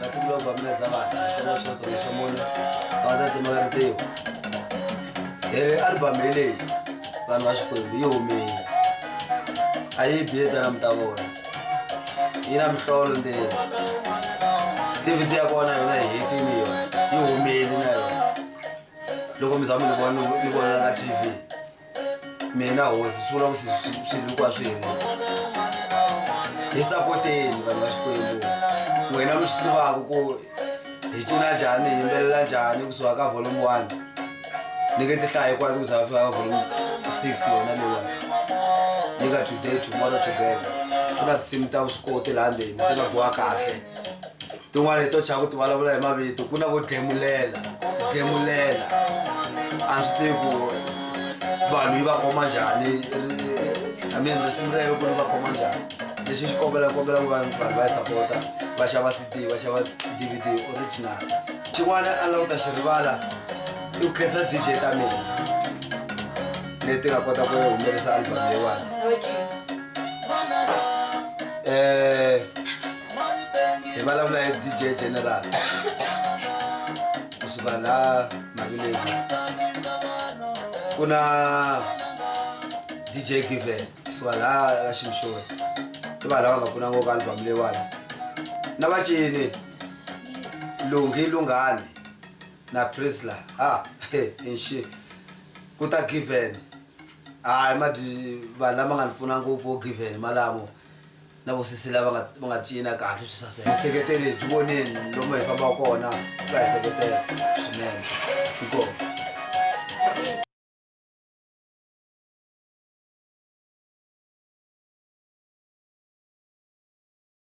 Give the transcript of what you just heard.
vatukulu va mina dza vana tsonga swo tsonga swa munhu va ta tsema ka ritiyo hi ri albamu hi leyi vanhu va xikwembu yi humile a yi biye tana mi ta vona yi na mihlolo ndzeni tiviti ya kona yona hi hetini yona yi humile na yona loko mi za mi ni vona ni vonela ka tv mina hosi swi vula ku swivikwa swi helele hi sapoteni vanhu va xikwembu n'wina mi swi tivaka ku hi cina njhani hi yimbelela njhani kusuka ka volume one ni ke tihlaya hikwati ku za va fika ka volume six yona leyiwani yi nga today tomorrow together ku na tinsimu ta vuswikoti laha ndzeni ti nga bowa kahle tin'wana hi to chava ku ti vulavula hi mavito ku na vo demulela demulela a swi tivi ku vanhu yi va khoma njhani i mean risimu rero ku ri va khoma njhani lexi xi kombela kombela ku vanhu vanhu va yi sapota va xava cd va xava dvd original xin'wana a lava ku ta xi rivala i ku khensa dj ta mina leti nga kota ku humelerisa album leyiwani um eh, hi vulavula hi dj general kusuka la mavileku ku na dj given kusuka la ka ximshoni i vanhu lava nga pfuna ngoko album leyiwani na vacini lunghi lunghani na prisla ha inxi ku ta given hayi madi vanhu lama nga ni pfuna ngopfu wo given malamo na vosesi lava nga va nga cina kahle swi saseka vuseketeri byi voneni lomu hi fambaka kona va hi seketela swinene inkomu